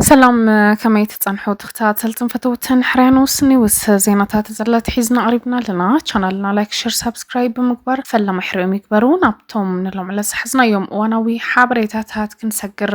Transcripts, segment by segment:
ሰላም ከመይ ትፀንሑ ተኸታተልትን ፈተውትን ሕርያኖስ ኒውስ ዜናታት ዘለቲ ሒዝና ኣቕሪብና ኣለና ቻናልና ላይክ ሸር ሳብስክራይብ ብምግባር ፈለማ ሕርዮም ይግበሩ ናብቶም ንሎምዕለ ዝሓዝናዮም እዋናዊ ሓበሬታታት ክንሰግር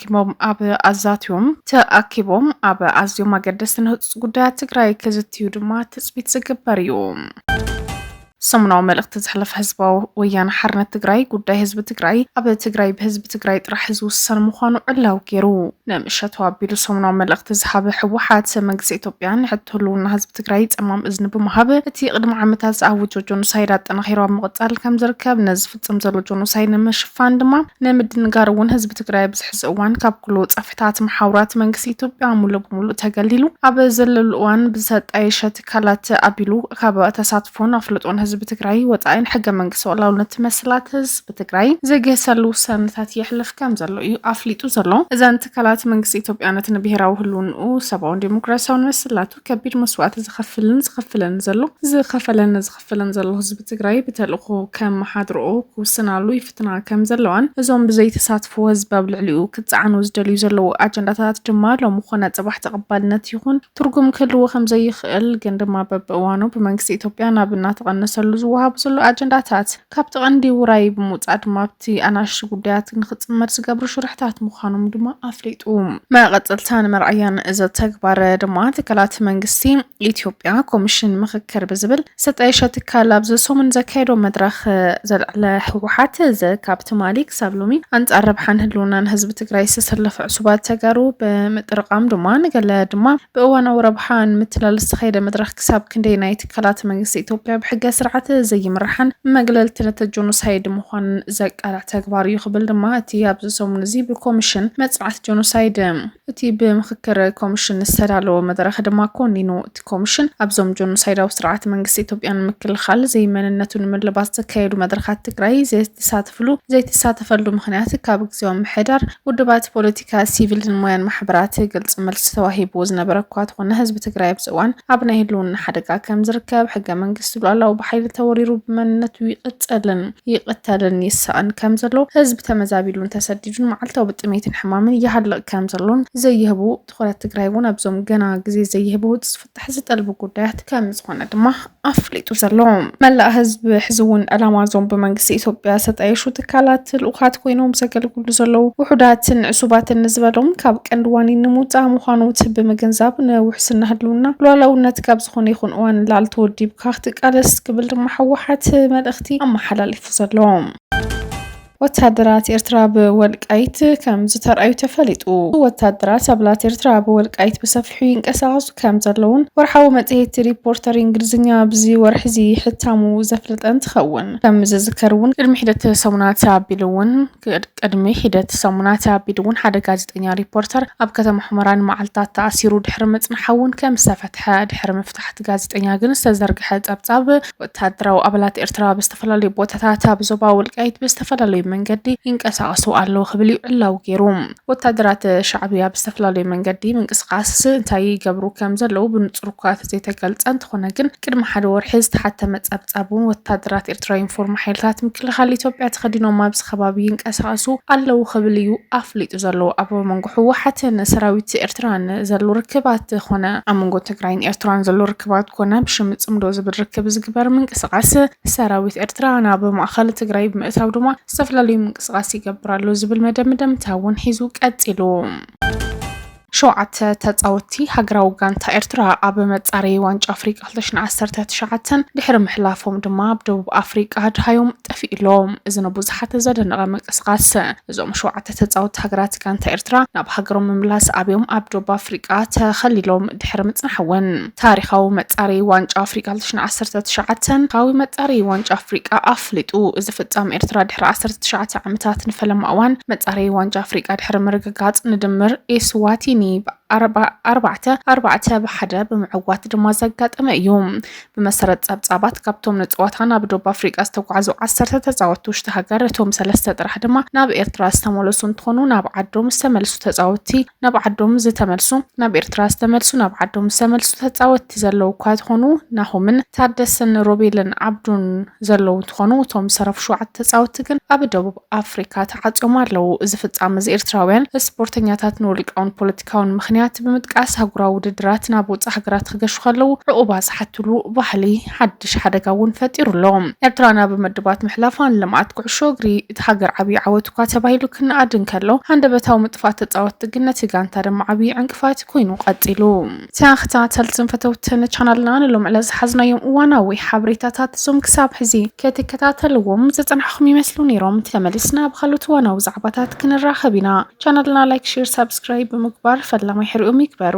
ተሰኪሞም ኣብ ኣዛትዮም ተኣኪቦም ኣብ ኣዝዮም ኣገደስትን ህፁፅ ጉዳያት ትግራይ ክዝትዩ ድማ ትፅቢት ዝግበር እዩ። ሰሙናዊ መልእኽቲ ዘሕለፈ ህዝባዊ ወያነ ሓርነት ትግራይ ጉዳይ ህዝቢ ትግራይ ኣብ ትግራይ ብህዝቢ ትግራይ ጥራሕ ዝውሰን ምዃኑ ዕላዊ ገይሩ ንምሸቱ ኣቢሉ ሰሙናዊ መልእኽቲ ዝሃበ ህወሓት መንግስቲ ኢትዮጵያ ንሕቶ ህልውና ህዝቢ ትግራይ ፀማም እዝኒ ብምሃብ እቲ ቅድሚ ዓመታት ዝኣወጆ ጆኖሳይድ ኣጠናኺሩ ኣብ ምቕፃል ከም ዝርከብ ነዚ ዝፍፅም ዘሎ ጆኖሳይ ንምሽፋን ድማ ንምድንጋር እውን ህዝቢ ትግራይ ኣብዚ ሕዚ እዋን ካብ ኩሉ ፀፍሕታት መሓውራት መንግስቲ ኢትዮጵያ ሙሉእ ብሙሉእ ተገሊሉ ኣብ ዘለሉ እዋን ብዝተጣየሸ ትካላት ኣቢሉ ካብ ተሳትፎን ኣፍልጦን ህዝቢ ትግራይ ወፃኢን ሕገ መንግስቲ ሉዓላውነት መሰላት ህዝቢ ትግራይ ዝግህሰሉ ውሳነታት የሕልፍ ከም ዘሎ እዩ ኣፍሊጡ ዘሎ። እዘን ትካላት መንግስቲ ኢትዮጵያ ነቲ ንብሄራዊ ህልውንኡ ሰብኣውን ዴሞክራሲያውን መሰላቱ ከቢድ መስዋእቲ ዝኸፍልን ዝኸፍልን ዘሎ ዝኸፈለን ክፍለን ዘሎ ህዝቢ ትግራይ ብተልእኾ ከመሓድርኦ ክውስናሉ ይፍትና ከም ዘለዋን እዞም ብዘይተሳትፍዎ ህዝቢ ኣብ ልዕሊኡ ክፀዓኑ ዝደልዩ ዘለዉ ኣጀንዳታት ድማ ሎሚ ኮነ ፅባሕ ተቐባልነት ይኹን ትርጉም ክህልዎ ከም ዘይኽእል ግን ድማ በብእዋኑ ብመንግስቲ ኢትዮጵያ ናብ እናተቐነሰሉ ዝወሃቡ ዘሎ ኣጀንዳታት ካብቲ ቀንዲ ውራይ ብምውፃእ ድማ እቲ ኣናእሽቲ ጉዳያት ንክፅመድ ዝገብሩ ሽርሕታት ምዃኖም ድማ ኣፍሊጡ። መቐፀልታ ንምርኣያ ንእዚ ተግባር ድማ ትካላት መንግስቲ ኢትዮጵያ ኮሚሽን ምኽክር ብዝብል ዝተጣየሸ ትካል ኣብዚ ሰሙን ዘካየዶ መድረኽ ዘልዕለ ህወሓት እዚ ካብ ትማሊ ክሳብ ሎሚ ኣንፃር ረብሓን ህልውናን ህዝቢ ትግራይ ዝተሰለፈ ዕሱባት ተጋሩ ብምጥርቃም ድማ ንገለ ድማ ብእዋናዊ ረብሓ ንምትላል ዝተኻየደ መድረኽ ክሳብ ክንደይ ናይ ትካላት መንግስቲ ኢትዮጵያ ብሕገ ስርዓት ዘይምራሓን መግለልቲ ነቲ ጆኖሳይድ ምዃንን ዘቃልዕ ተግባር እዩ ክብል ድማ እቲ ኣብዚ ሰሙን እዚ ብኮሚሽን መፅናዕቲ ጆኖሳይድ እቲ ብምክክር ኮሚሽን ዝተዳለወ መድረኽ ድማ ኮኒኑ። እቲ ኮሚሽን ኣብዞም ጆኖሳይዳዊ ስርዓት መንግስቲ ኢትዮጵያ ንምክልኻል ዘይመንነቱ ንምልባት ዘካየዱ መድረኻት ትግራይ ዘይተሳተፍሉ ዘይተሳተፈሉ ምክንያት ካብ ግዜያዊ ምሕዳር ውድባት ፖለቲ ካብ ሲቪል ሞያን ማሕበራት ግልፂ መልሲ ተዋሂብዎ ዝነበረ እኳ ተኾነ ህዝቢ ትግራይ ኣብዚ እዋን ኣብ ናይ ህልውና ሓደጋ ከም ዝርከብ ሕገ መንግስቲ ሉዓላዊ ብሓይሊ ተወሪሩ ብመንነቱ ይቕፀልን ይቕተልን ይሳቕን ከም ዘሎ ህዝቢ ተመዛቢሉን ተሰዲዱን መዓልታዊ ብጥሜትን ሕማምን ይሃልቕ ከም ዘሎን ዘይህቡ ትኹረት ትግራይ እውን ኣብዞም ገና ግዜ ዘይህቡ ፍትሒ ዝጠልቡ ጉዳያት ከም ዝኾነ ድማ ኣፍሊጡ ዘሎ መላእ ህዝቢ ሕዚ እውን ዕላማ እዞም ብመንግስቲ ኢትዮጵያ ዝተጣየሹ ትካላት ልኡኻት ኮይኖም ዘገልግሉ ዘለዉ ውሑዳትን ንዕሱባትን ንዝበሎም ካብ ቀንዲ ዋኒን ንምውፃእ ምዃኑ እቲ ብምግንዛብ ንውሕስና ህልውና ሉዓላውነት ካብ ዝኾነ ይኹን እዋን ንላዕሊ ተወዲብካ ክትቃለስ ክብል ድማ ህወሓት መልእኽቲ ኣመሓላሊፉ ዘሎ ወታደራት ኤርትራ ኣብ ወልቃይት ከም ዝተርኣዩ ተፈሊጡ። ወታደራት ሳብላት ኤርትራ ኣብ ወልቃይት ብሰፊሑ ይንቀሳቐሱ ከም ዘለውን ወርሓዊ መጽሔት ሪፖርተር እንግሊዝኛ ኣብዚ ወርሒዚ ሕታሙ ዘፍለጠ እንትኸውን ከም ዝዝከር እውን ቅድሚ ሒደት ሰሙናት ኣቢሉ እውን ቅድሚ ሒደት ሰሙናት ኣቢሉ እውን ሓደ ጋዜጠኛ ሪፖርተር ኣብ ከተማ ሑመራ ንመዓልትታት ተኣሲሩ ድሕሪ ምጽናሓ እውን ከም ዝተፈትሐ ድሕሪ ምፍታሕቲ ጋዜጠኛ ግን ዝተዘርግሐ ጸብጻብ ወተሃደራዊ ኣባላት ኤርትራ ኣብ ዝተፈላለዩ ቦታታት ኣብ ዞባ ወልቃይት ብዝተፈላለዩ መንገዲ ይንቀሳቐሱ ኣለዉ ክብል እዩ ዕላዊ ገይሩ ወታደራት ሻዕብያ ኣብ ዝተፈላለዩ መንገዲ ምንቅስቓስ እንታይ ይገብሩ ከም ዘለዉ ብንፁር እኳ ተዘይተገልፀ እንተኾነ ግን ቅድሚ ሓደ ወርሒ ዝተሓተመ ጸብጻብ እውን ወታደራት ኤርትራ ዩኒፎርም ሓይልታት ምክልኻል ኢትዮጵያ ተኸዲኖም ኣብዚ ከባቢ ይንቀሳቐሱ ኣለዉ ክብል እዩ ኣፍሊጡ ዘሎ ኣብ መንጎ ህወሓትን ሰራዊት ኤርትራን ዘሎ ርክባት ኮነ ኣብ መንጎ ትግራይን ኤርትራን ዘሎ ርክባት ኮነ ብሽም ፅምዶ ዝብል ርክብ ዝግበር ምንቅስቓስ ሰራዊት ኤርትራ ናብ ማእኸል ትግራይ ብምእታው ድማ ዝተፈላለዩ ምንቅስቓስ ይገብር ኣሎ ዝብል መደምደምታ እውን ሒዙ ቀፂሉ። ሸውዓተ ተጻወትቲ ሃገራዊ ጋንታ ኤርትራ ኣብ መጻረዪ ዋንጫ ኣፍሪቃ ክልተ ሽሕን ዓሰርተ ትሽዓተን ድሕሪ ምሕላፎም ድማ ኣብ ደቡብ ኣፍሪቃ ኣድሃዮም ጠፊኡ ኣሎ። እዚ ንብዙሓት ዘደነቐ ምንቅስቓስ እዞም ሸውዓተ ተጻወትቲ ሃገራት ጋንታ ኤርትራ ናብ ሃገሮም ምምላስ ኣብዮም ኣብ ደቡብ ኣፍሪቃ ተኸሊሎም ድሕሪ ምጽናሕ'ውን፣ ታሪኻዊ መፃረዪ ዋንጫ ኣፍሪቃ ክልተ ሽሕን ዓሰርተ ትሽዓተን፣ ታሪኻዊ መፃረዪ ዋንጫ ኣፍሪቃ ኣፍሊጡ። እዚ ፍፃም ኤርትራ ድሕሪ ዓሰርተ ትሽዓተ ዓመታት ንፈለማ እዋን መፃረዪ ዋንጫ ኣፍሪቃ ድሕሪ ምርግጋፅ ንድምር ኤስዋቲኒ ብ ኣርባዕተ ኣርባዕተ ብ ሓደ ብምዕዋት ድማ ዘጋጠመ እዩ። ብመሰረት ጸብጻባት ካብቶም ንጸዋታ ናብ ዶብ ኣፍሪቃ ዝተጓዓዙ ዓሰርተ ተጻወትቲ ውሽጢ ሃገር እቶም ሰለስተ ጥራሕ ድማ ናብ ኤርትራ ዝተመለሱ እንትኾኑ ናብ ዓዶም ዝተመልሱ ተጻወትቲ ናብ ዓዶም ዝተመልሱ ናብ ኤርትራ ዝተመልሱ ናብ ዓዶም ዝተመልሱ ተጻወትቲ ዘለዉ እኳ ተኾኑ ናሆምን ታደሰን ሮቤልን ዓብዱን ዘለዉ እንትኾኑ እቶም ዝተረፉ ሸውዓተ ተጻወትቲ ግን ኣብ ደቡብ ኣፍሪካ ተዓጽዮም ኣለዉ። እዚ ፍጻመ እዚ ኤርትራውያን እስፖርተኛታት ንውልቃውን ፖለቲካውን ምኽንያት ብምጥቃስ ኣህጉራዊ ውድድራት ናብ ወጻእ ሃገራት ክገሹ ከለዉ ዕቑባ ዝሓትሉ ባህሊ ሓድሽ ሓደጋ እውን ፈጢሩ ኣሎ። ኤርትራ ናብ ምድባት ምሕላፋ ንልምዓት ኩዕሾ እግሪ እታ ሃገር ዓብዪ ዓወት እኳ ተባሂሉ ክነኣድ እንከሎ፣ ሃንደበታዊ ምጥፋእ ተጻወትቲ ግን ነቲ ጋንታ ድማ ዓብዪ ዕንቅፋት ኮይኑ ቀጺሉ። ተኸታተልትን ፈተውትን ቻናልና ንሎሚ ዕለት ዝሓዝናዮም እዋናዊ ሓበሬታታት እዞም ክሳብ ሕዚ ክትከታተልዎም ዝጸናሕኹም ይመስሉ ነይሮም። ተመሊስና ኣብ ካልኦት እዋናዊ ዛዕባታት ክንራኸብ ኢና። ቻናልና ላይክ፣ ሼር፣ ሳብስክራይብ ብምግባር ፈላማይ ሕርኦም ይግበሩ።